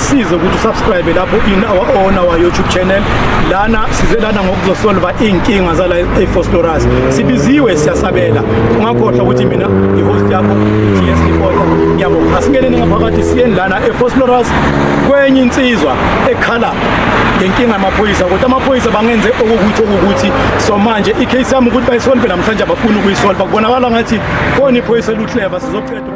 size ukuthi usubscribe lapho in our own our YouTube channel lana size lana ngokuzosolva inkinga zala eFosloras sibiziwe siyasabela ungakhohlwa ukuthi mina ihost yakho TS Reporter yabo asingeneni ngaphakathi siyeni lana eFosloras kwenye insizwa ekhala ngenkinga yamaphoyisa kodwa amaphoyisa bangenze okukuthi okukuthi so manje icase yami ukuthi bayisolve namhlanje abafuni ukuyisolva kubonakala ngathi foni iphoyisa luhleva sizoqeda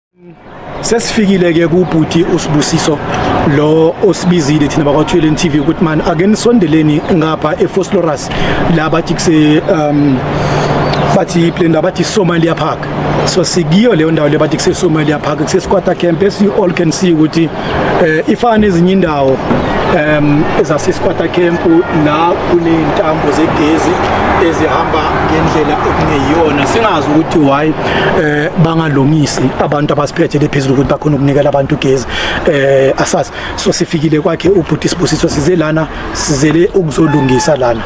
sesifikile ke kubhuti usibusiso lo osibizile thina bakwathweleni TV ukuthi man ake nisondeleni ngapha eFoslorus la bathi kuse um bathi plan abathi Somalia Park so sikiyo leyo ndawo le bathi kuse Somalia Park kuse Squatter Camp as you all can see ukuthi eh ifana nezinye indawo um ezasisikwata camp la kuney'ntambo zegezi ezihamba ngendlela okungeyiyona singazi ukuthi why eh bangalungisi abantu abasiphethe lephezulu ukuthi bakhona ukunikela abantu ugezi eh asazi so sifikile kwakhe ubhuti sibusiso size lana sizele ukuzolungisa lana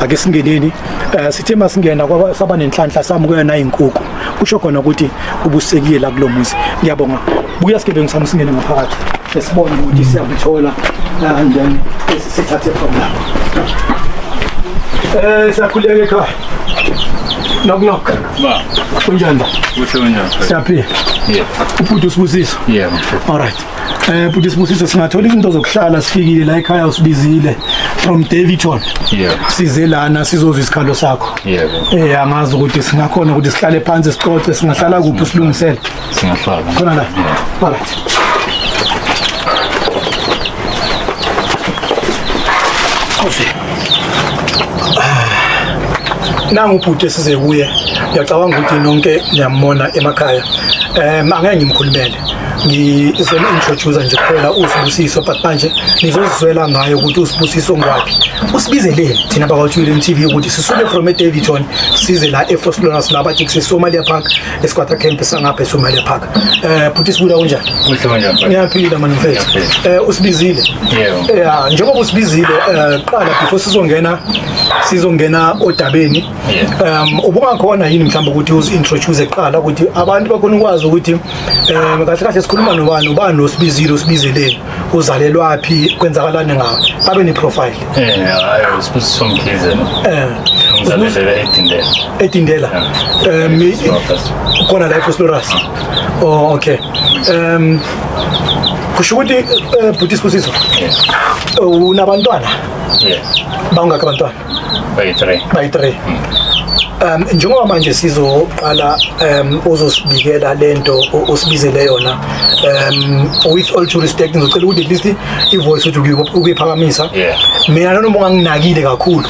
ake singeneni eh sithe masingena kwaba saba nenhlanhla samukela nayinkukhu kusho khona ukuthi ubusekile la kulomuzi ngiyabonga buya sigebengu sami singene ngaphakathi sesibone ukuthi siyakuthola uh, and then sithathe from lapho eh siyakhuleka ekhaya knock knock ba kunjani ba kuhle kunjani siyaphila yeah ubhuti usibusisa yeah all right eh bhuti sibusiso singathola izinto zokuhlala sifikile la ekhaya usibizile from Davidton yeah size lana sizozwa isikhalo sakho yeah eh angazi ukuthi singakhona ukuthi sihlale phansi sixoxe singahlala kuphi silungisele Singahlala. Khona la. Alright. Kofi. Nangu ubhuti esize kuye. Ngiyacabanga ukuthi nonke niyamona emakhaya. Eh angeke ngimkhulumele. ngizoma introducer nje kuphela usibusiso but manje nizozizwela ngayo ukuthi usibusiso ngwaphi usibizeleni thina bakwathuleni TV ukuthi sisuke from eDavidton size la eForslorus la bathi kuseSomalia Park esikwatha camp sangapha eSumele Park eh bhuti sibuya kunjani kuhle kanjani ngiyaphila manje mfethu eh usibizile yebo eh ah, njengoba usibizile eh, qala before sizongena sizongena odabeni um ubungakhona yini mhlawumbe ukuthi uzintroduce eqala ukuthi abantu bakhona ukwazi ukuthi um kahle kahle sikhuluma nobani ubani osibizile usibizeleni uzalelwaphi kwenzakalani ngawo babe ne-profile um sibusiso mkhize ngizalelele edindela edindela um khona la efoslorasi oh okay um kusho ukuthi eh, bhuti sibusiso unabantwana bangakho abantwana bayi-three bayi-three um njengoba manje sizoqala um uzosibikela lento osibizele yona um with all due respect ngizocela ukuthi at least i-voice ukuthi ukuyiphakamisa mina nanoma unganginakile kakhulu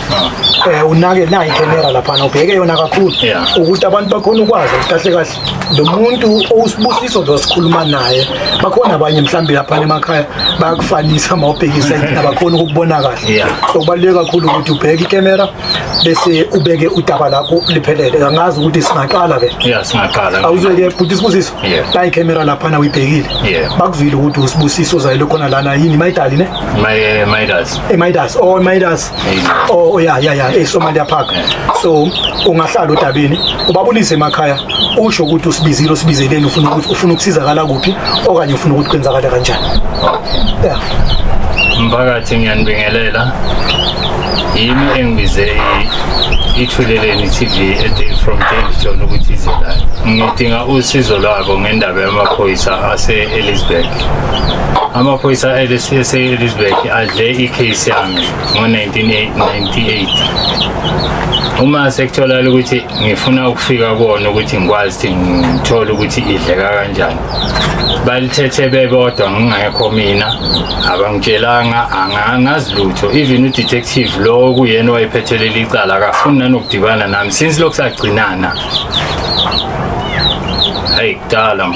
um unake nayi camera laphana ubheke yona kakhulu ukuthi abantu bakhona ukwazi ukuthi kahle kahle lo muntu owusibusiso lo sikhuluma naye bakhona abanye mhlawumbe lapha emakhaya bayakufanisa uma ubhekisa abakhona ukubona kahle so kubaluleke kakhulu ukuthi ubheke ikamera bese ubeke udaba lakho liphelele angazi ukuthi singaqala ke yeah singaqala awuzeke bhuti sibusiso la ikamera lapha na uyibhekile bakuzwile ukuthi usibusiso zayile khona lana yini mayidali ne my eh, midas eh, midas oh midas Oh, oh ya ya ya eSomalia eh, Park. So ungahlala udabini ubabulise emakhaya usho ukuthi usibizile usibizeleni ufuna ukuthi ufuna ukusizakala kuphi okanye ufuna ukuthi kwenzakala kanjani. Yeah. Mphakathi ngiyanibingelela. Yimi engibize ithuleleni TV ethi from James John ukuthi ize la. Ngidinga usizo lwabo ngendaba yamaphoyisa ase Elizabeth. Amaphoyisa ase Elizabeth adle iCase yami ngo-1998 uma sekutholakala ukuthi ngifuna ukufika kuwona ukuthi ngikwazi ukuthi ngithole ukuthi idleka kanjani balithethe bebodwa ngingekho mina abangitshelanga angangazi lutho even udetective lowo kuyena wayephethelele icala akafuni nanokudibana nami since lokhu sagcinana hayi kudala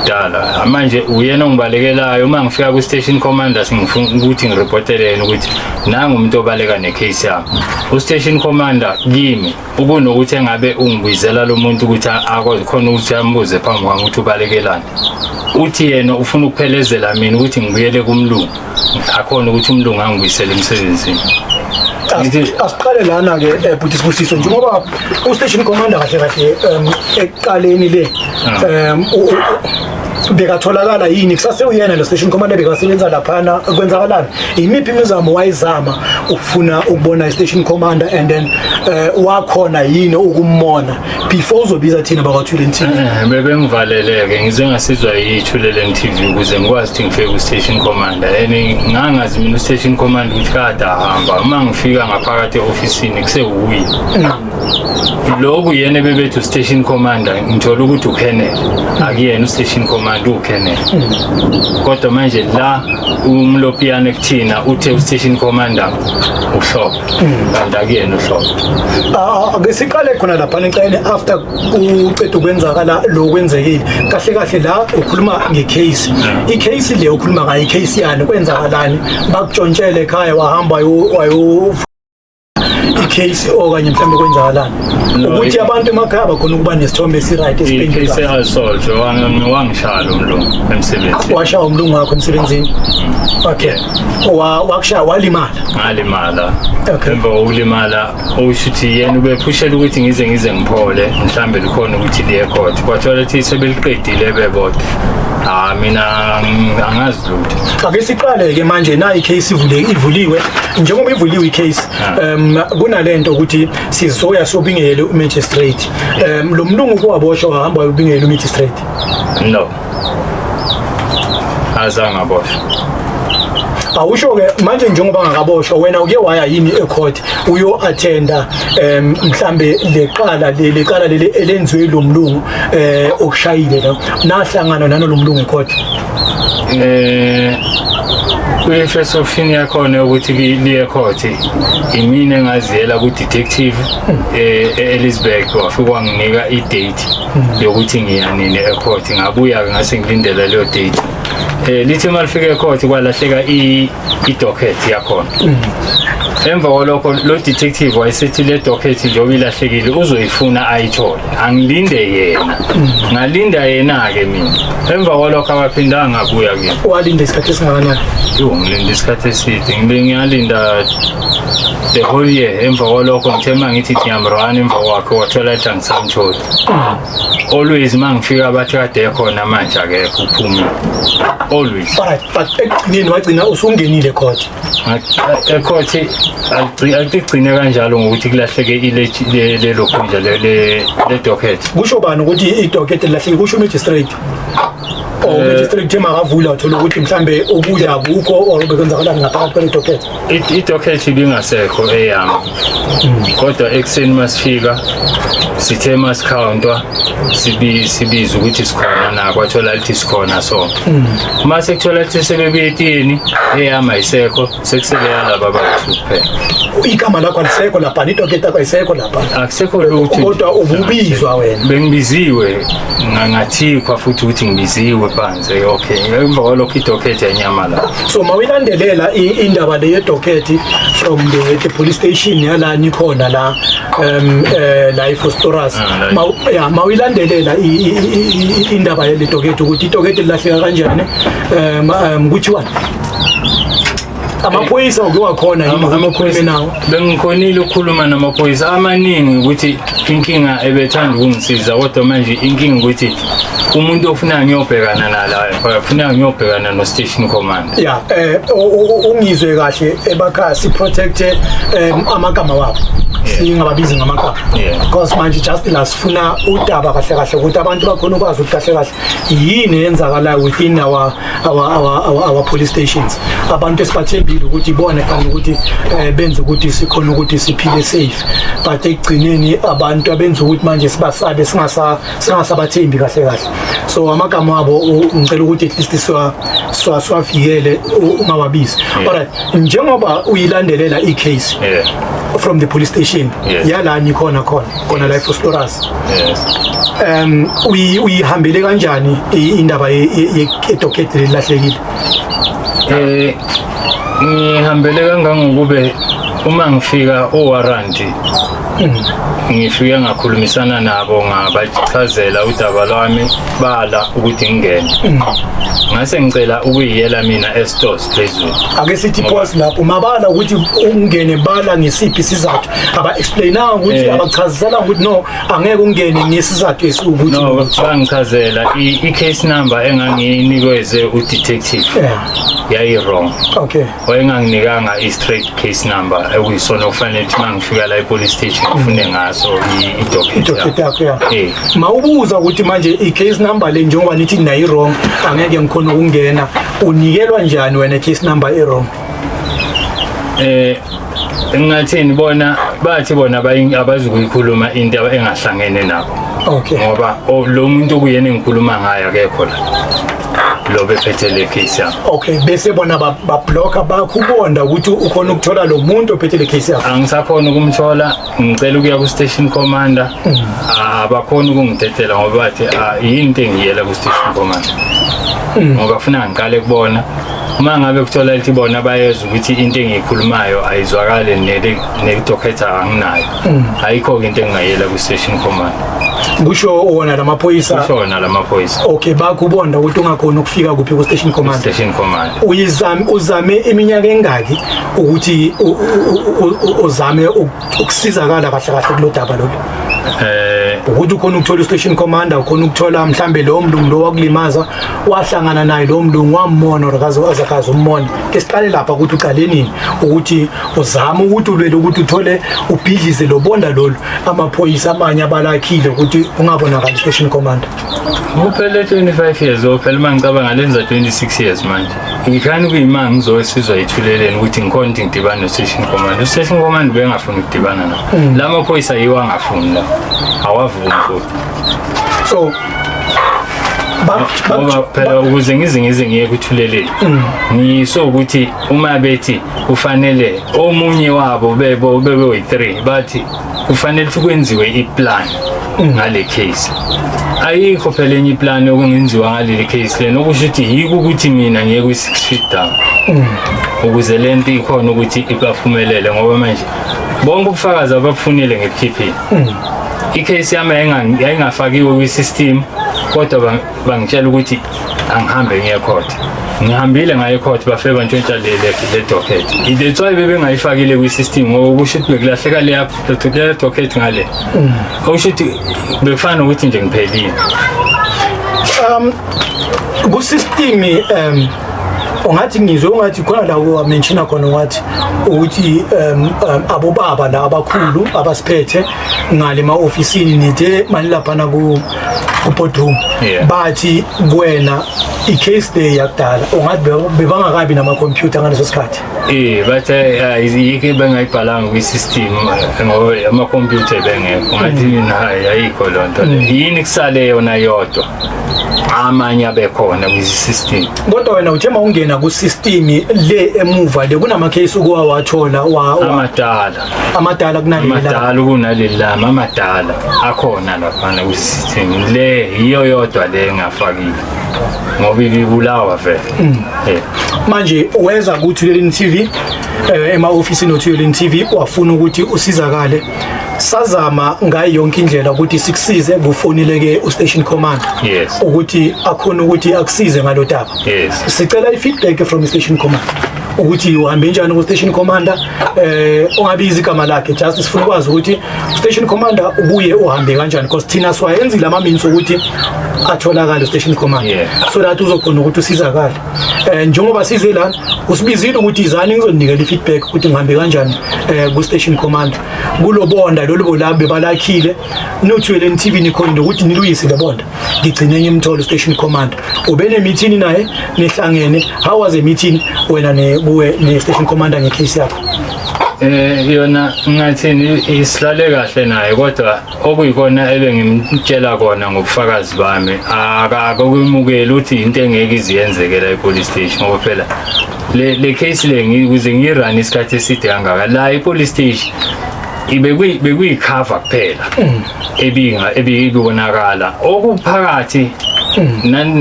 kudala manje uyena ongibalekelayo uma ngifika kwi-station commander sengifuna ukuthi ngiripotele yena ukuthi nangu umuntu obaleka necase yami u-station commander kimi ukunokuthi engabe ungibizela lo muntu ukuthi akwazi khona ukuthi ambuze phambi kwami ukuthi ubalekelani uthi yena ufuna ukuphelezela mina ukuthi ngibuyele kumlungu akhona ukuthi umlungu angibuyisele emsebenzini asiqale lana ke eh, bhuti sibusiso njengoba ustation commander kahle kahle um ekuqaleni le ah. um bekatholakala yini kusase uyena lo station commander bekasebenza laphana kwenzakalani yimiphi imizamo wayizama ukufuna ukubona i-station commander and then um wakhona yini ukummona before uzobiza thina bakwathuleni tv Eh, bebengivaleleke ngize ngasizwa yithuleleni tv ukuze ngikwazi ukuthi ngifike ku-station commander and ngangazi mina u-station commander ukuthi kade ahamba uma ngifika ngaphakathi e-ofisini kusewuye loku yena ebebethi u-station commander ngithola ukuthi ukhenele akuyena u-station commander uwukhenele kodwa manje la umlopiyane kuthina uthe u-station commander uhlophe kanti akuyena uhlobo Ah, ake siqale khona lapha nicele after uqeda ukwenzakala lo kwenzekile kahle kahle la ukhuluma ngecase icase le ukhuluma ngayo icase yani kwenzakalani bakutshontshele ekhaya wahamba wayo- wayo icase okanye mhlawumbe kwenzakalani No, ukuthi i- abantu emakhaya bakhona ukuba nesithombe esiright icase esiphendula ehasoljo wangishaya lo mlungu emsebenzini washawa umlungu wakho emsebenzini okay Wa wakushaya walimala. Ngalimala. Okay. Emva kokulimala usho ukuthi yena ubephushela ukuthi ngize ngize ngiphole mhlambe likhona ukuthi liye court. Kwathola ukuthi sebeliqedile bebodwa. Ah mina ng- angazi lutho. Ake siqale ke manje nayi case ivule ivuliwe njengoba ivuliwe icase Ah. um kunalento ukuthi sizoya sobingele umagistrate um lo mlungu kowaboshwa wahamba ubingele umagistrate No. azange aboshwe awusho ke manje njengoba ngakaboshwa wena uke waya yini ecourt uyo attenda um mhlambe leqala leli qala leli elenziwe lo mlungu eh okushayile la nahlangana nalo mlungu ecourt eh kwi-first option yakhona ukuthi liye court imina engaziyela ku-detective um hmm. eh, e-elizabeth wafike wanginika i-date yokuthi ngiya nini ecourt ngabuya-ke ngase ngilindele leyo date um lithi uma lifika ecourt kwalahleka i-docket yakhona mm. emva kwalokho lo detective wayesethi le docket njengoba ilahlekile uzoyifuna ayithole angilinde yena mm. ngalinda yena-ke mina emva kwalokho akaphindanga ngabuya kimi walinda isikhathi esingakanani yo ngilinde isikhathi eside ngibe ngiyalinda the whole year emva kwalokho ngithe uma ngithi ngiyamrana emva kwakhe wathola Samthola. Always mangifika bathi kade ekhona manje akekho uphumile. Always. Alright, but ekugcineni wagcina usungenile court. Ecourt aligcine kanjalo ngokuthi kulahleke ile lelo khundla le le docket. Kusho bani ukuthi i docket lilahleke kusho magistrate. Oh, eh. magistrate makavula uthola ukuthi mhlambe ukudla akukho or bekwenzakalani ngaphakathi kwele docket. idocket ibingasekho eyami kodwa ekuseni masifika sithe masikhawuntwa sibiza ukuthi sikhona na kwathola lithi sikhona so uma sekuthola lithi sebebuye etini eyami ayisekho sekusebeyalaba bathu kuphela igama lakho alisekho lapha nidoketa yakho ayisekho lapha akusekho lutho kodwa ububizwa wena bengibiziwe ngangathikwa futhi ukuthi ngibiziwe phansi Say okay, ngemva kwalokho idocket yanyamalala. So mawilandelela i- indaba le yedocket from the, the police station yala nikhona la um eh la iFostoras. Ah, la- Maw- yeah, mawilandelela i- i- i- i- i- indaba yale docket ukuthi idocket lilahleka kanjani. Um um kuthiwa amaphoyisa uke wakhona yini amaphoyisa nawo bengikhonile ukukhuluma namaphoyisa amaningi ukuthi inkinga ebethanda ukungisiza kodwa manje inkinga ukuthi umuntu ofuna ngiyobhekana nala ufuna ngiyobhekana no station commander ya eh ungizwe kahle ebakha si protect um, amagama wabo singababizi ngamagama because manje just la sifuna udaba kahle kahle ukuthi abantu bakhona ukwazi ukuthi kahle kahle yini eyenzakalayo within our our our our, our police stations abantu esibathembile ukuthi ibona kanti ukuthi eh, benze ukuthi sikhona ukuthi siphile safe but ekugcineni abantu abenza ukuthi manje sibasabe singasa singasabathembi kahle kahle so amagama abo u- ngicela ukuthi at least siwa siwa- siwavikele u- ungawabizi alright njengoba uyilandelela i-case Yeah. from the police station Yeah. yalani khona khona khona la eFosforus yes um uyihambele kanjani indaba yedocket lelahlekile eh ngihambele kangangokube uma ngifika owaranti hmm. ngifike ngakhulumisana nabo ngabachazela udaba lwami bala ukuthi ngingene hmm. ngase ngicela ukuyiyela mina estores phezulu ake sithi pause lapho mabala ukuthi ungene bala ngesiphi sizathu aba-explainanga ukuthi eh. abachaziselanga ukuthi no angeke ungene ngesizathu esiwukuthi no bangichazela i-case number engangiyinikeze udetective eh. yayi-wrong okay wayenganginikanga i-straight case number ekuyisona okufanele ukuthi mangifika la e-police station ngifune mm. ngaso idocket yakho ya eh. ma ubuza ukuthi manje i-case number le njengoba nithi nayi-wrong angeke ngikhona ukungena unikelwa njani wena i-case number e-wrong eh engathini bona bathi bona abazukuyikhuluma into engahlangene nabo okay ngoba lo muntu okuyena engikhuluma ngayo akekho la lo bephethe le case yami okay bese bona bablocker bakho ubonda ukuthi ukhona ukuthola lo muntu ophethe le case yami angisakhona ukumthola ngicela ukuya ku-station commander ah, abakhona ukungidedela ngoba bathi ah, yini into engiyela ku-station commander ngoba funa ngiqale kubona uma ngabe kuthola lithi bona bayezwa ukuthi into engiyikhulumayo ayizwakale nekudokhetha anginayo ayikho-ke into engingayela ku-station commander kusho wona la maphoyisa kusho wona la maphoyisa okay bakubonda ukuthi ungakhona ukufika kuphi ku-station commander station commander uyizame uzame iminyaka engaki ukuthi uzame ukusizakala kahle kahle kulodaba lolu eh ukuthi ukhona ukuthola istation commander ukhona ukuthola mhlambe lo mlungu lo wakulimaza wahlangana naye lo mlungu wamona okaze wazakaza ummona ke siqale lapha ukuthi uqale nini ukuthi uzama ukuthi ulwele ukuthi uthole ubhidlize lobonda lolu amaphoyisa amanye abalakhile ukuthi ungabonakali istation commander Uphele 25 years ophela uma ngicabanga lenza 26 years manje. Ngikhani kuyimanga ngizowesizwa ithuleleni ukuthi ngikhona ukuthi ngidibane no-station command. U-station command bengafuni ukudibana nawo. Mm. La maphoyisa yiwo angafuni la. Awavumi futhi. So ngoba phela ukuze ngize ngize ngiye kuthuleleni mm. ngiso ukuthi uma bethi kufanele omunye wabo bebo bebe-three bathi kufanele ukuthi kwenziwe iplan ngale case ayikho phela enye iplan okungenziwa ngaleli case lena okusho ukuthi yiko ukuthi mina ngiye kwi-six feet down ukuze le nto ikhona ukuthi ibaphumelele ngoba manje bonke ubufakazi ababufunile nge-pp i-case yami yayingafakiwe kwi-system kodwa bangitshela ukuthi angihambe ngiye court ngihambile ngaye court bafike bantshontsha le le docket that's why bebengayifakile kwi system ngoba kusho ukuthi bekulahleka le app le docket ngale mm. okusho ukuthi bekufana nokuthi nje ngiphelile um ku system um ungathi ngizwe ungathi khona la wamenshina khona ungathi ukuthi um, um, abobaba la abakhulu abasiphethe ngale ma-ofisini nithe mani laphana ku ubhodum Yeah. bathi kuwena i-case day yakudala ungathi be- bebangakabi namakhompyutha ngaleso sikhathi Eh, but eh, ah, yike bengayibhalanga kwi-system eh, ngoba amakhompyutha bengekho ngathi mina hayi ayikho loo nto le. yini kusale yona yodwa amanye abekhona kwi-system kodwa wena uthe mawungena ku-system le emuva le kunama-case ukuwawathola wa- wa- amadala amadala kunaleli lami amadala kunaleli lami amadala akhona laphana kusithini le yiyo yodwa le engafakile ngoba ibulawa vele mm. eh. manje weza kuthi lelini TV eh, ema-ofisini othi yolini TV wafuna ukuthi usizakale sazama ngayo yonke indlela ukuthi sikusize kufonile ke ustation command yes ukuthi akhona ukuthi akusize ngalodaba yes sicela ifeedback from station command ukuthi uhambe njani ku-station commander eh ongabizi igama lakhe just sifuna ukwazi ukuthi station commander ubuye uhambe kanjani because thina siwayenzile ama-means ukuthi atholakale station commander yeah. so that uzokhona ukuthi usizakale um eh, njengoba size lana usibizile ukuthi izani ngizoninikela i-feedback ukuthi ngihambe kanjani um eh, ku-station commander kulobonda lolu bolabe balakhile niwuthuyeleni i-tv nikhonile ukuthi niluyise le bonda ngigcine ngimthole station commander ubene meeting naye nihlangene how was a meeting wena ne kuwe ne station commander nge case yakho eh yona ngathini isilale kahle naye kodwa okuyikona ebengimtshela kona ngobufakazi bami akakumukeli ukuthi into engeke iziyenzekela epolice station ngoba phela le le case le ngikuze ngirun isikhathi eside kangaka la epolice station ibekuyi bekuyi cover kuphela mm. ebinga ebibonakala okuphakathi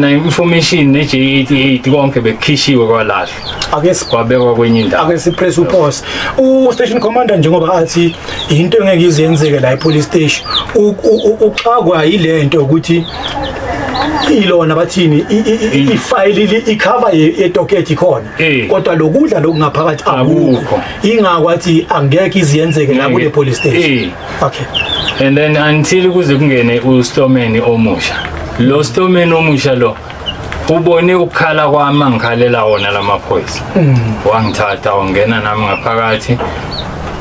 na-information ne-j88 konke bekukhishiwe kwalahlwa ake sikwabekwa kwenye indawo ake sipress upause u-station commander njengoba athi yinto engeke ize yenzeke la e-police station uxakwa yile nto ukuthi ilona bathini ifayili ikhava yedokethi khona eh. kodwa lokudla lokungaphakathi akukho ingakwathi angeke iziyenzeke la kule police station eh. okay and then until kuze kungene ustomeni omusha lo stomeni omusha lo ubone ukukhala kwami angikhalela wona lamaphoyisa mm. wangithatha wangena nami ngaphakathi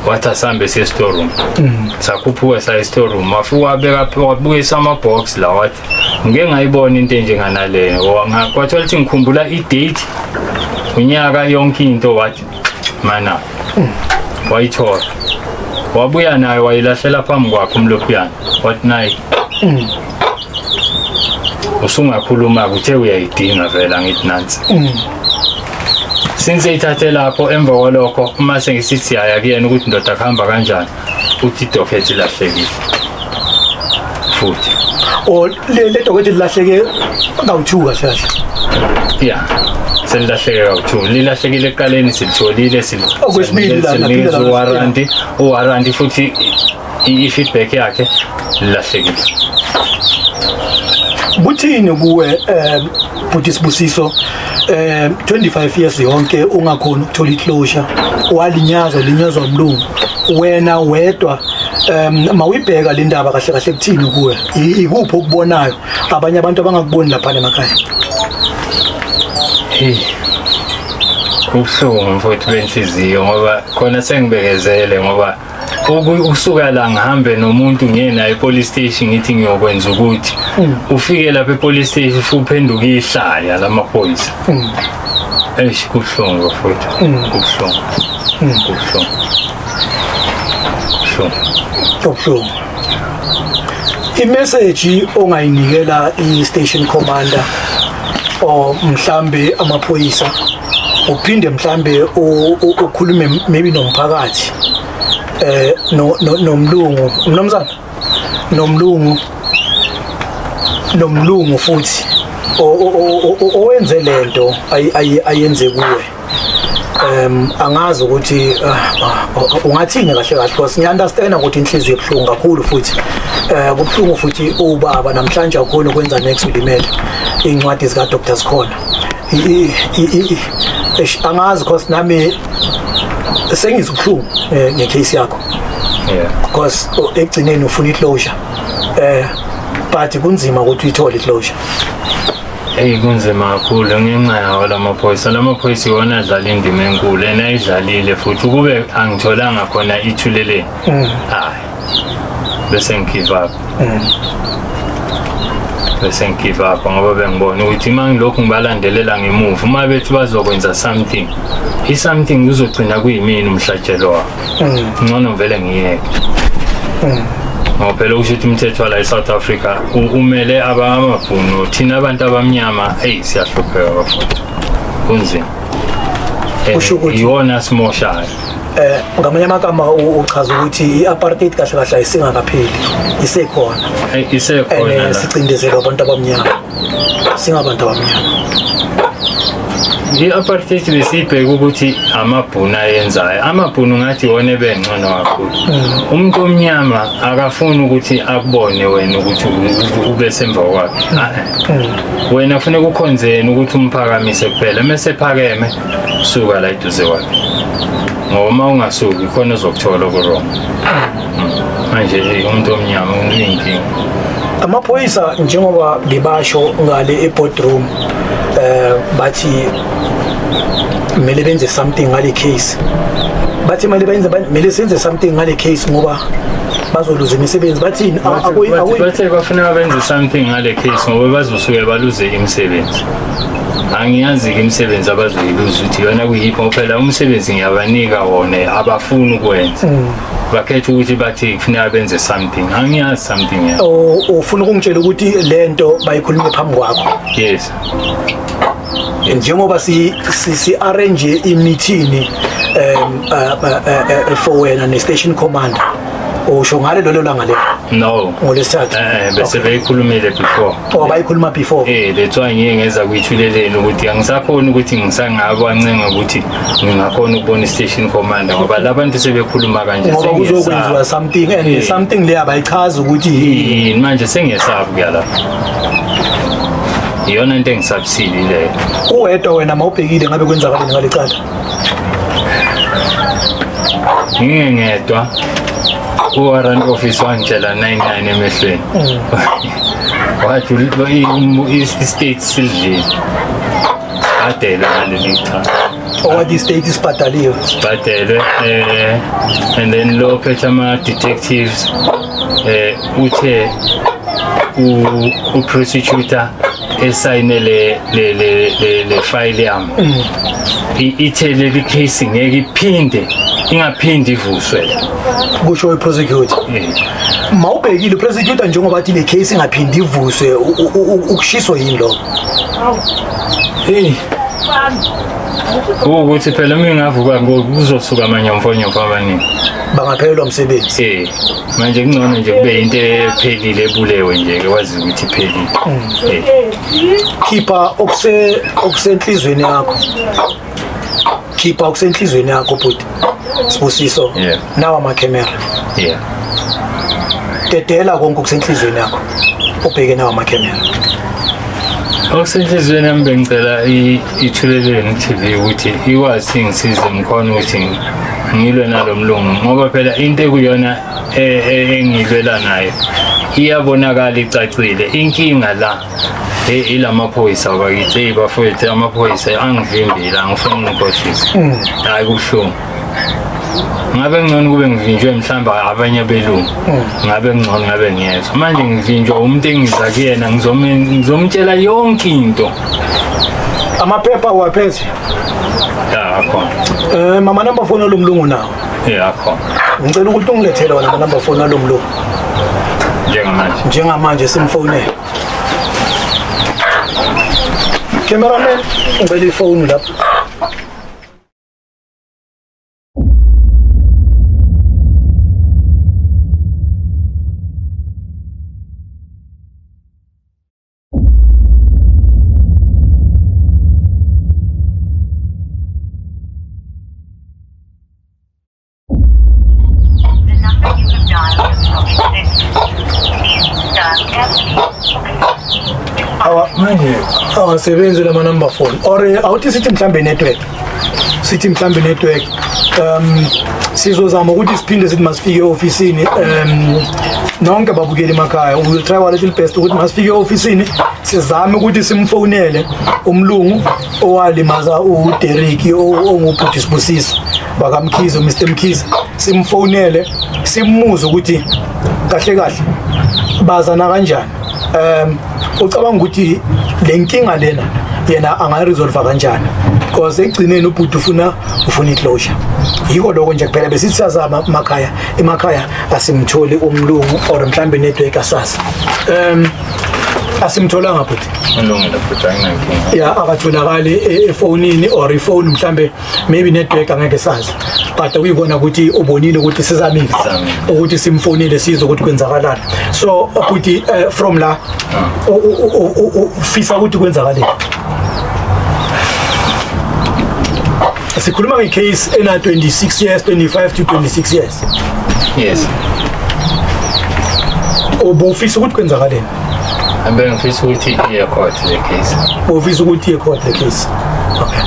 wathi asambe siye store room mm. sakhuphuka saye store room wafika wabeka wabuyisa ama box la wathi ngike ngayibona into enjenganaleyo kwathiwa lithi ngikhumbula i date unyaka yonke into wathi mana wayithola wabuya nayo wayilahlela phambi kwakhe umlophiyana wathi naye usungakhuluma-ke uthe uyayidinga vele angithi nansi since ithathe lapho emva kwalokho uma sengisithi yaya kuyena ukuthi ndoda kuhamba kanjani futhi idokhethi lahlekile futhi o le le dokhethi lilahleke kawu-two kahle kahle ya selilahleke kawu-two lilahlekile ekuqaleni silitholile Okwesibili la, silinikeza laphinda la, uwaranti uwaranti futhi i- i-feedback yakhe lilahlekile buthini kuwe um bhuti sibusiso eh 25 years yonke ungakhona ukuthola iclosure walinyazwa linyazwa umlungu wena wedwa um mawuyibheka le ndaba kahle kahle kuthini kuwe ikuphi okubonayo abanye abantu abangakuboni lapha emakhaya hey ubuhlungu mfowethu benhliziyo ngoba khona sengibekezele ngoba ukusuka la ngihambe nomuntu ngiye naye epolice station ngithi ngiyokwenza ukuthi mm. ufike lapha epolice station fuphenduka ihlaya lamaphoyisa mm. eish kubuhlungu futhi mm. kubuhlungu kubuhlungu kubuhlungu imessage ongayinikela i-station commander or mhlambe amaphoyisa uphinde mhlambe ukhulume maybe nomphakathi eh no nomlungu mnumzana nomlungu nomlungu futhi owenze lento ayenze kuwe um angazi ukuthi ah, ah, ungathini kahle kahle because ngiunderstand ukuthi inhliziyo ebuhlungu kakhulu futhi eh kubuhlungu futhi ubaba namhlanje akukhona ukwenza next ulimele incwadi zika Dr Sikhona angazi cause nami sengizwa ubuhlungu eh, ngecase yakho yeah because oh, ekugcineni ufuna iclosure eh but kunzima ukuthi uyithole iclosure eyi kunzima kakhulu ngenxa yawo la maphoyisa la maphoyisa iwona adlala indima enkulu ena idlalile futhi ukube angitholanga khona ithuleleni mm. hayi bese ngigive up mm. bese ngigive up ngoba bengibona ukuthi uma ngilokhu ngibalandelela ngemuva uma bethi bazokwenza something i-something kuzogcina kuyimini umhlatshelo wabo mm. ngcono vele ngiyeke mm. ngoba phela okusho ukuthi umthetho wala e-south africa umele abamabhunu thina abantu abamnyama eyi siyahlupheka bafuthi kunzima eh, iwona simoshayo eh ngamanye amagama uchaza ukuthi i-apartheid kahle kahle ayisingakapheli isekhona isekhona eh, sicindezelwa abantu abamnyama singabantu abamnyama i-apartheid besiyibheke ukuthi amabhunu ayenzayo amabhunu ngathi iwona ebengcono kakhulu mm. umuntu omnyama akafuni ukuthi akubone wena ukuthi ube semva kwakhe mm. wena funeka ukhonzeni ukuthi umphakamise kuphela uma sephakeme suka la iduze kwami ngoba uma ungasuki khona uzokuthola okurong hmm. manje umuntu omnyama uyinkinga amaphoyisa njengoba bebasho ngale eboardroom eh bathi kumele benze something ngale case bathi mali benze kumele senze something ngale case ngoba bazoluza imisebenzi bathini bathe bafuna benze something ngale case ngoba bazosuke baluze imisebenzi angiyazi-ke imisebenzi abazoyiluza ukuthi yona kuyiphi ngoba phela umsebenzi ngiyabanika wona abafuni ukwenza mm. bakhetha ukuthi bathi kufuneka benze something angiyazi something ya ufuna ukungitshela ukuthi le nto bayikhulume phambi kwakho yes njengoba si si arrange imithini um uh, uh, uh, for wena ne station commander usho ngale lelo langa lelo no ngolesithathu eh bese beyikhulumile before or bayikhuluma before eh that's why ngiye ngeza kuyithuleleni ukuthi angisakhona ukuthi ngisangako ancenga ukuthi ngingakhona ukubona station commander ngoba labantu sebekhuluma kanje ngoba kuzokwenziwa something and eh. something le abayichaza ukuthi yini manje sengiyesabu kuyala iyona into engisabisile leyo uwedwa wena mawubhekile ngabe kwenzakaleni ngalecala ngingengedwa uwarrant office wangitshela 99 emehlweni mm. Wathi lo i-state sidlile. Adela ngaleli cha. Owathi i-state isibhadaliwe. Sibhadelwe eh and then lo phethe ama detectives eh uthe u prosecutor esayine le le le le, le file yami mm. ithe leli case ngeke iphinde ingaphindi ivuswe kusho iprosecutor mawubhekile iprosecutor njengoba athi le case ingaphindi ivuswe ukushiswa yini lo hey ukuthi phela uma ingavuka kuzosuka amanyomfonyomfo abaningi bangaphelelwa umsebenzi manje kungcono nje kube into ephelile ebulewe nje ke wazi ukuthi iphelile Eh, khipha okuse okusenhlizweni yakho khipha okusenhlizweni yakho bhuti sibusiso Yeah. nawa amakhemera yeah dedela konke okusenhlizweni yakho ubheke nawa amakhemera okusenhliziyweni yami bengicela i- ithuleleni tv ukuthi ikwazi ingisize ngikhona ukuthi ngilwe nalo mlungu ngoba phela into ekuyona e, e, engilwela nayo iyabonakala icacile inkinga la e, ilamaphoyisa bakithi eyi bafowethu amaphoyisa angivimbile angifuni ngikhohlise mm. hayi kubuhlungu ngabe ngcono kube ngivinjwe mhlawumbe abanye belungu hmm. ngabe ngcono ngabe ngiyezwa manje ngivinjwa umuntu engiza kuyena ngizomtshela yonke into Amaphepha uwaphethe? Ya akhona. Eh mama number phone lomlungu nawo. Ya akhona. Ngicela ukuthi ungilethele wona ama number phone lomlungu. Njengamanje. Njengamanje simfonele. Cameraman, ngicela ifoni lapho. awasebenzi lamanumber phone or awuthi sithi mhlawumbe network sithi mhlambe network um sizozama ukuthi siphinde sithi masifike eofisini um nonke babukeli emakhaya we will try our little best ukuthi masifike eofisini sizame ukuthi simfonele umlungu owalimaza uDerek ongubhuti sibusiso bakamkhize uMr Mkhize simfonele simuze ukuthi kahle kahle bazana kanjani um ucabanga ukuthi le nkinga lena yena angayiresolve kanjani because ekugcineni ubhuti ufuna ufuna iclosure yiko lokho nje kuphela besithi sazama emakhaya emakhaya asimtholi umlungu or mhlambe network asazi um asimtholanga bhuti ya akatholakali e-, efonini or ifoni mhlambe maybe network angeke sazi but uyibona ukuthi ubonile ukuthi sizamile ukuthi simfonile sizwe ukuthi kwenzakalani so ukuthi eh, from la ah. ufisa ukuthi kwenzakaleni sikhuluma ngecase ena 26 years 25 to 26 years yes ubufisa ukuthi kwenzakaleni Bengifisa ukuthi iye court le case. Ufisa ukuthi iye court le case. Okay.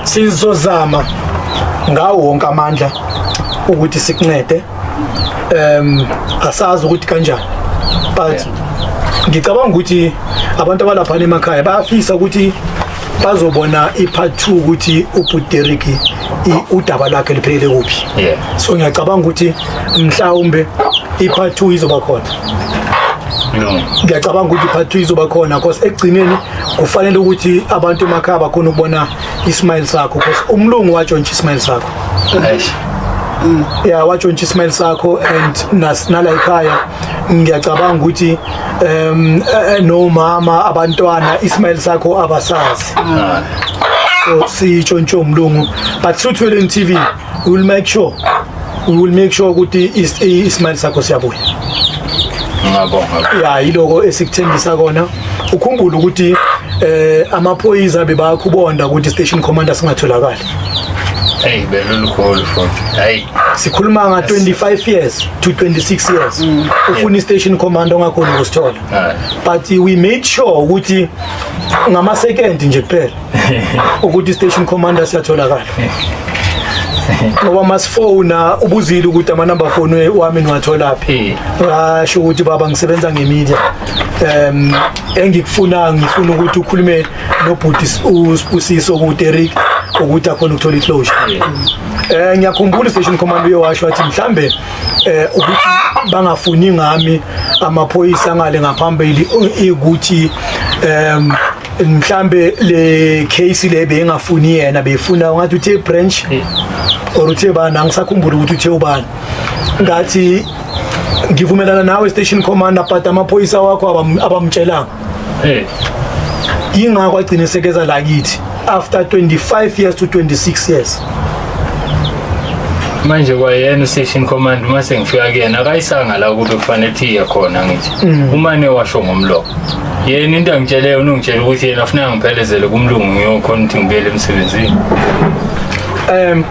Sizozama ngawo wonke amandla ukuthi sikuncede. Um asazi ukuthi kanjani. But ngicabanga ukuthi abantu abalapha emakhaya bayafisa ukuthi bazobona ipart 2 ukuthi ubhuti Derrick i- udaba lwakhe liphelele kuphi Yeah. so ngiyacabanga ukuthi mhlawumbe i-part two izoba khona No. ngiyacabanga ukuthi i-part two izoba khona cause ekugcineni kufanele ukuthi abantu emakhaya bakhona ukubona ismile sakho cause umlungu watshontsha ismile sakho Eish. ya watshontsha ismile sakho and nas- nala ekhaya ngiyacabanga ukuthi um nomama abantwana ismail sakho abasazi so sitsho ntsho mlungu but suthweleni tv we will make sure we will make sure ukuthi ismail sakho siyabuya ngiyabonga ya yiloko esikuthembisa kona ukhumbule ukuthi eh amaphoyisa bebakubonda ukuthi station commander singatholakali Hey, belulu khulu futhi. Hey. Sikhuluma nga 25 years to 26 years. Mm. Ufuna station commander ongakhona ukusithola. But we made sure ukuthi ngama second nje kuphela ukuthi station commander siyatholakala. ngoba masifona ubuzile ukuthi amanumber phone wami niwatholaphi ngasho ukuthi baba ngisebenza ngemedia um engikufuna ngifuna ukuthi ukhulume nobhuti usibusiso ukuthi Eric ukuthi akhona ukuthola iclosure eh ngiyakhumbula station command uyewasho wathi mhlambe eh ukuthi bangafuni ngami amaphoyisa ngale ngaphambili ukuthi em mhlambe le case le bengafuni yena befuna ngathi uthe branch or uthe bana ngisakhumbula ukuthi uthe ubani ngathi ngivumelana nawe station commander but amaphoyisa wakho abamtshelanga Hey. Ingakho agcine sekeza la kithi after 25 years to 26 years. manje kwayena ustation command uma sengifika kuyena akayisanga la ukuthi kufanele ukuthi iye khona ngithi Mm. umane washo ngomlomo yena into angitsheleyo unongitshela ukuthi yena afuna ngiphelezele kumlungu ngiyokhona ukuthi ngibuyele emsebenzini um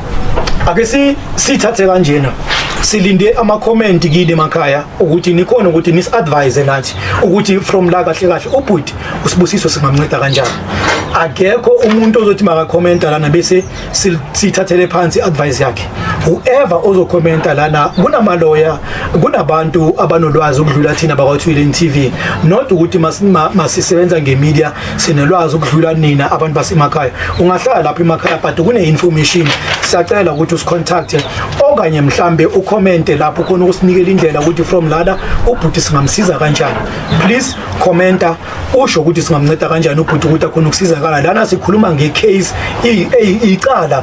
ake si sithathe kanjena silinde ama-comment kini emakhaya ukuthi nikhona ukuthi nisi-advise nathi ukuthi from la kahle kahle ubhuti usibusiso singamnceda kanjani akekho umuntu ozothi makakhomenta lana bese sithathele phansi advice yakhe whoever ozokhomenta lana kunamaloya kunabantu abanolwazi ukudlula thina bakwathwile TV not ukuthi masisebenza ngemedia sinelwazi ukudlula nina abantu basemakhaya ungahlala lapha emakhaya but kune-information siyacela ukuthi usicontacte okanye mhlambe ukhomente lapho khona ukusinikela indlela ukuthi from lana ubhuti singamsiza kanjani please commenta usho ukuthi singamnceda kanjani ubhuti ukuthi akhona ukusizakala lana sikhuluma ngecase icala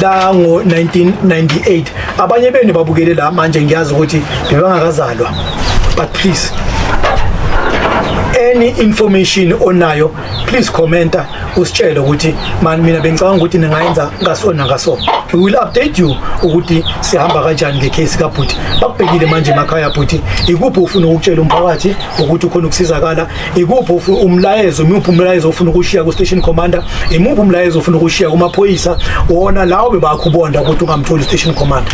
lango-1998 abanye benu babukele la manje ngiyazi ukuthi bebangakazalwa but please any information onayo please commenta usitshele ukuthi mani mina bengicabanga ukuthi ningayenza ngasona ngaso we will update you ukuthi sihamba kanjani ngecase kabhuti bakubhekile manje emakhaya bhuti ikuphi ufuna ukutshela umphakathi ukuthi ukhona ukusizakala ikuphi umlayezo imuphi umlayezo ofuna ukushiya ku station commander imuphi umlayezo ofuna ukushiya kumaphoyisa wona lawo bebakho ubonda ukuthi ungamtholi station commander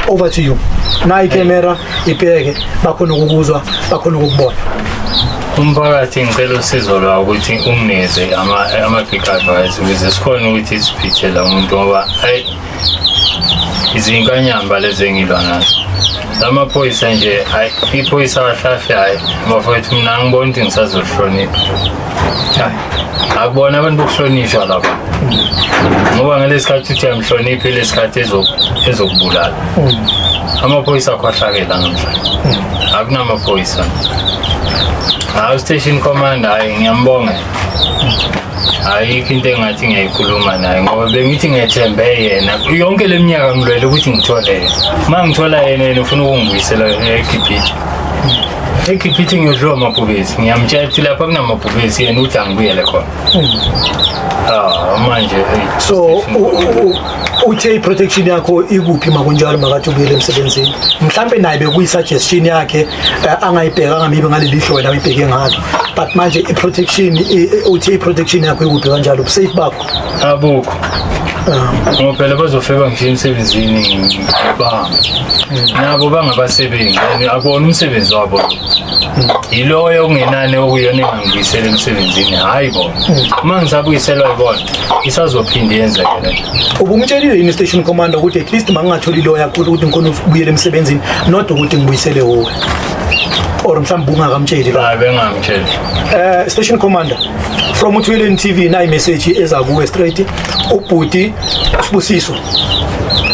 over to you nayi camera ibheke bakhona ukukuzwa bakhona ukukubona umphakathi ngicela usizo lwawo ukuthi ungineze ama-big advice ukuze sikhona ukuthi siphithela umuntu ngoba izinkanyamba lezi engilwa nazo lamaphoyisa nje hayi iphoyisa kahlahle hayi bafowethu mina angiboni ukuthi ngisazohlonipha hayi akubona abantu bokuhlonishwa laba ngoba ngalesi khathi uthi amhloniphe lesi khathi ezokubulala amaphoyisa akhohlakela namhlanje akunamaphoyisa hayi ustation commander hayi ngiyambonga ayikho into engathi ngiyayikhuluma naye ngoba bengithi ngethembe yena yonke le minyaka ngilwele ukuthi ngithole yena uma ngithola yena yena ufuna ukungibuyisela ekhiphithi ekhiphithi ngiyodliwa amabhubesi ngiyamtshela ukuthi lapha kunamabhubesi yena uthi angibuyele khona ah manje so uthe i-protection yakho ikuphi makunjalo makathi ubuyele emsebenzini mhlampe naye bekuyi-suggestion yakhe eh, angayibheka angamibe ngaleli hlo wena uyibheke ngalo but manje i-protection uthe i-protection yakho ikuphi kanjalo ubusafe bakho abukho ah. ngoba phela bazofika nje emsebenzini banga nabo bangabasebenzi and akuwona umsebenzi wabo yiloyo okungenani okuyona engangibuyisela emsebenzini hhayi bona uma ngisabuyiselwa yibona isazophinde yenzeke le nto ubumtshelile yini station commander ukuthi at least mangingatholi loya kuthi ukuthi ngikhona ukubuyela emsebenzini not ukuthi ngibuyisele wowe or mhlawumbe ungakamtsheli lo hayi bengamtsheli eh station commander from uthwileni tv nayi message eza kuwe straight ubhuti sibusiso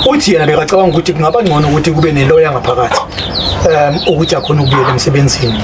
uthi yena bekacabanga ukuthi kungaba ngcono ukuthi kube neloya ngaphakathi um ukuthi akhona ukubuyela emsebenzini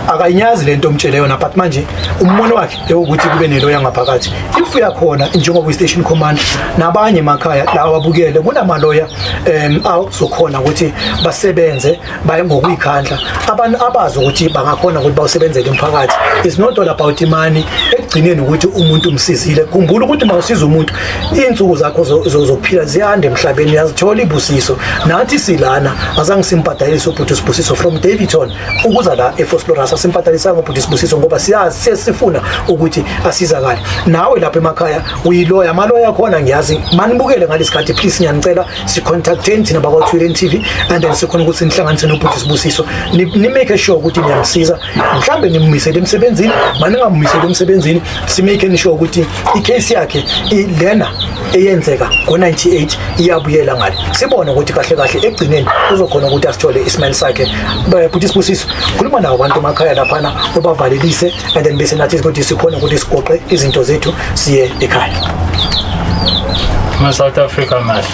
akayinyazi lento omtshele yona but manje ummono wakhe ukuthi kube nento yangaphakathi if uyakhona njengoba i-station command nabanye emakhaya la ababukele kunamaloya um azokhona ukuthi basebenze baye ngokuyikhandla abantu abazi ukuthi bangakhona ukuthi bawusebenzele umphakathi it's not all about imani ekugcineni ukuthi umuntu umsizile khumbula ukuthi uma usiza umuntu iy'nsuku zakho zophila ziyanda emhlabeni yazithola ibusiso nathi silana azange simbhadalise ubhuti usibusiso from davidton ukuza la eFosloras asimpathalisa ngobhuti Sibusiso ngoba siyazi sesifuna ukuthi asizakale nawe lapha emakhaya uyiloya amaloya khona ngiyazi manibukele ngalesikhathi please ngiyanicela si contacteni thina bakwa Twitter TV and then sikhona ukuthi nihlanganise nobhuti Sibusiso ni, ni make sure ukuthi niyamsiza mhlambe nimumisele emsebenzini maningamumisele emsebenzini si make sure ukuthi icase yakhe ilena eyenzeka ngo-98 iyabuyela ngale sibone ukuthi kahle kahle ekugcineni uzokhona ukuthi asithole isimele sakhe bhuti sibusiso khuluma nawo abantu emakhaya laphana ubavalelise and then bese nathi ukuthi sikhona ukuthi sigoqe izinto zethu siye ekhaya ma-south africa mahle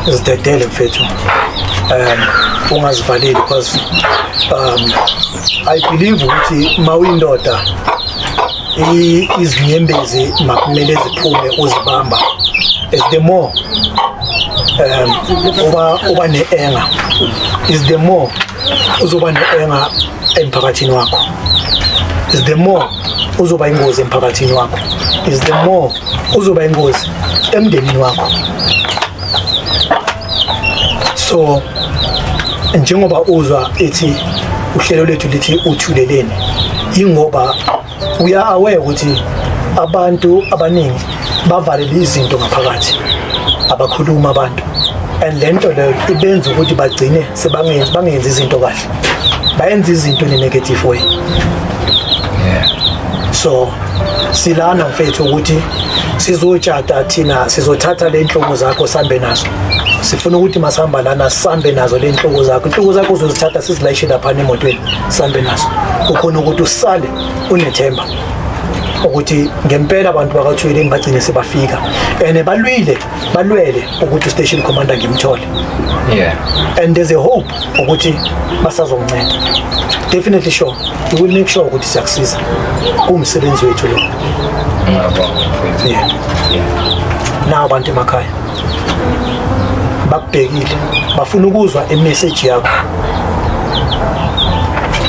zidedele mfethu um ungazivaleli because um i believe ukuthi ma uyindoda izinyembezi makumele ziphume uzibamba is the more um uba uba neenga is the more uzoba neenga emphakathini wakho is the more uzoba ingozi emphakathini wakho is the more uzoba ingozi emndenini wakho so njengoba uzwa ethi uhlelo lethu lithi uthuleleni ingoba uya aware ukuthi abantu abaningi bavalele izinto ngaphakathi abakhuluma abantu and lento leyo ibenza ukuthi bagcine sebangenzi bangenzi izinto kahle bayenza izinto ne negative way yeah so silana mfethu ukuthi sizotshata thina sizothatha le nhloko zakho sambe nazo sifuna ukuthi masihamba lana sambe nazo le nhloko zakho inhloko zakho uzozithatha sizilayishe laphana emotweni sambe nazo kukhona ukuthi usale unethemba ukuthi ngempela abantu bakathweleni bagcine sebafika and balwile balwele ukuthi ustation commander ngimthole yeah and there's a hope ukuthi basazomnceda definitely sure we will make sure ukuthi siyakusiza kumsebenzi wethu lo yeah nawo abantu emakhaya bakubhekile bafuna ukuzwa i message yakho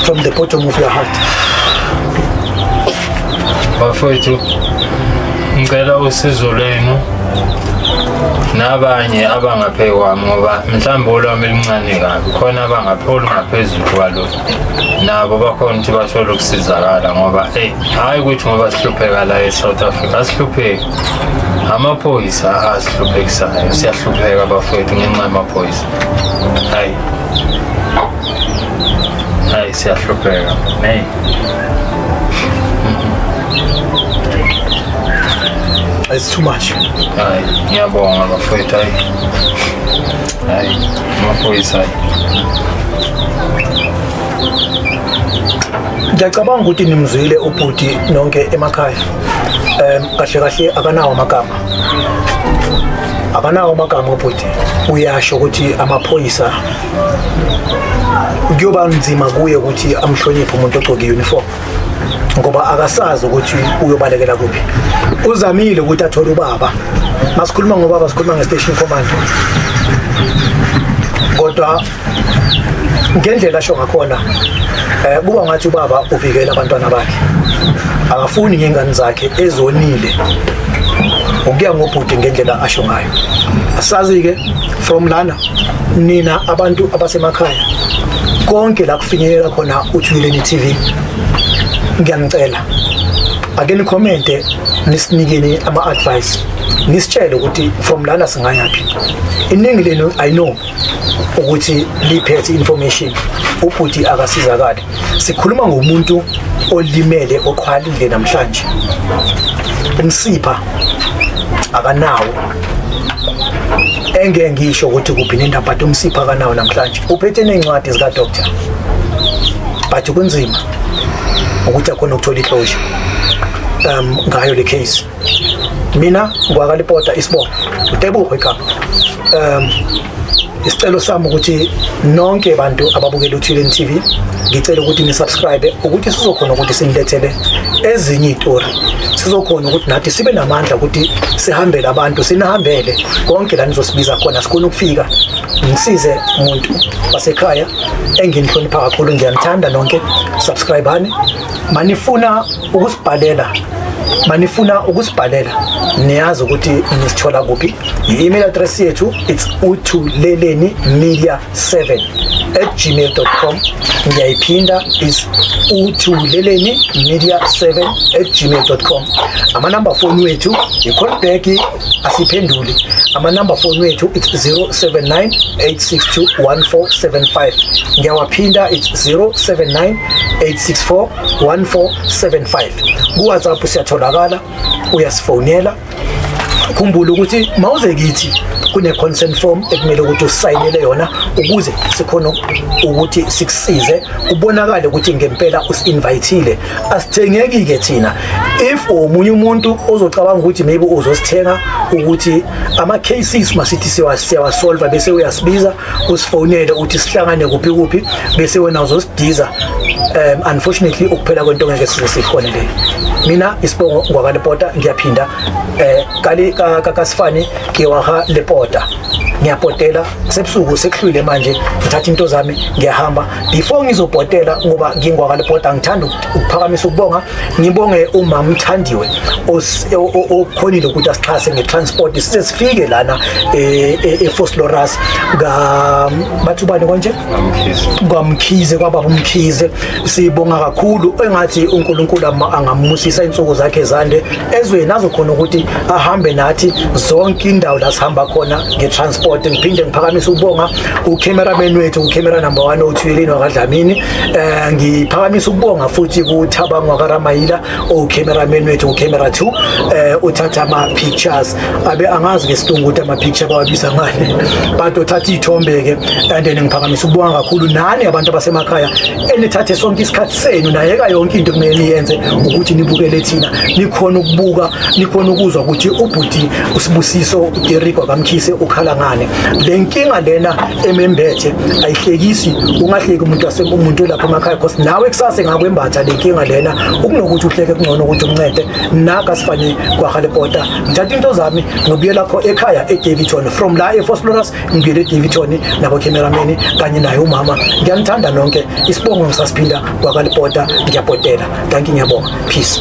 from the bottom of your heart bafowethu ngicela usizo lwenu nabanye abangaphekwa ngoba mhlawumbe olwami luncane kabi khona abangaphe olungaphezulu kwalo nabo bakhona ukuthi bathole ukusizakala ngoba eyi hhayi ukuthi ngoba sihlupheka la e-south africa asihlupheki amaphoyisa asihluphekisanayo siyahlupheka bafowethu ngenxa yamaphoyisa hhayi Ay, se atropella. Hey. It's too much. Ay, ya bonga la feta. Ay, no puede ser. ngiyacabanga ukuthi nimzwile ubhuti nonke emakhaya um kahle kahle akanawo amagama akanawo amagama ubhuti uyasho ukuthi amaphoyisa kuyoba nzima kuye ukuthi amhloniphe umuntu ogcoke uniform ngoba akasazi ukuthi uyobalekela kuphi uzamile ukuthi athole ubaba masikhuluma ngobaba sikhuluma nge-station command kodwa ngendlela asho ngakhona eh kuba ngathi ubaba uvikela abantwana bakhe akafuni ngengane zakhe ezonile ukuya ngobhuti ngendlela asho ngayo asazi ke from lana nina abantu abasemakhaya konke la kufinyelela khona uthuleleni TV ngiyanicela ake nikhomente nisinikeni ama advice nisitshele ukuthi from lana singayaphi iningi lenu i know ukuthi liphethe information ubhuti akasizakali Sikhuluma ngomuntu olimele oqhwalile namhlanje. Umsipha akanawo. Engeke ngisho ukuthi kuphi nendaba but umsipha akanawo namhlanje. Uphethe nencwadi zika doctor. But kunzima ukuthi akhona ukuthola ihlosha um ngayo le case. mina ngwakalipota isibongo utebuho igama um isicelo sami ukuthi nonke abantu ababukela uthuleni tv ngicela ukuthi nisubscribe ukuthi sizokhona ukuthi sinilethele ezinye iy'tori sizokhona ukuthi nathi sibe namandla ukuthi sihambele abantu sinihambele konke la nizosibiza khona sikhona ukufika ngisize umuntu wasekhaya enginihlonipha kakhulu ngiyanithanda nonke subscribani manifuna ukusibhalela manifuna ukusibhalela niyazi ukuthi nisithola kuphi i-email address yethu it's uthuleleni media 7 at gmail.com ngiyayiphinda is uthuleleni media 7 at gmail.com amanamba foni wethu yi-callback asiphenduli amanumber phone wethu it's 0798621475 ngiyawaphinda it's 0798641475 kuwhatsapp siyatholakala uyasifonela khumbula ukuthi mawuze kithi kune consent form ekumele ukuthi usayinele yona ukuze sikhona ukuthi sikusize kubonakale ukuthi ngempela usinvitile asithengeki-ke thina if omunye umuntu ozocabanga ukuthi maybe uzosithenga ukuthi ama-cases masithi siyawasolva bese uyasibiza usifonele ukuthi sihlangane kuphi kuphi bese wena uzosidiza um unfortunately ukuphela kwento ngeke size sikhone leyo mina isibongo ngwakalepota ngiyaphinda um kasifani ngiwaha lepota ngiyapotela sebusuku sekuhlwile manje ngithatha into zami ngiyahamba before ngizobhotela ngoba ngingwakalibhoda ngithanda ukuphakamisa ukubonga ngibonge umama uthandiwe okhonile ukuthi asixhase ngetransport sisifike lana e-fosloras bathi ubani konje kwamkhize kwababa umkhize sibonga kakhulu engathi uNkulunkulu angamusisa insuku zakhe zande ezweni azokhona ukuthi ahambe nathi zonke indawo la sihamba khona ngetransport ngiphinde ngiphakamisa ukubonga ucameraman wethu ucamera number 1 othuyeleni wakadlamini eh ngiphakamisa ukubonga futhi kuthabangwa karamayila ucameraman wethu ngocamera 2 eh uthatha ama pictures abe angazi ke silungu ukuthi ama picture bawabiza ngani but uthatha ithombe ke and then ngiphakamisa ukubonga kakhulu nani abantu abasemakhaya enithathe sonke isikhathi senu nayeka yonke into kumele niyenze ukuthi nibukele thina nikhona ukubuka nikhona ukuzwa ukuthi ubhuti usibusiso Derrick wakamkhise ukhala ngani le nkinga lena emembethe ayihlekisi ungahleki umuntu ase umuntu lapha emakhaya because nawe kusase ngakwembatha le nkinga lena ukunokuthi uhleke kungcono ukuthi umncede naka sifane kwahalepota ngithatha into zami ngibuye lapho ekhaya edaviton from la efosploras ngibuyele edaviton nabokhemerameni kanye naye umama ngiyanithanda nonke isibongo ngisasiphinda kwakalepota ngiyabhodela danki ngiyabonga peace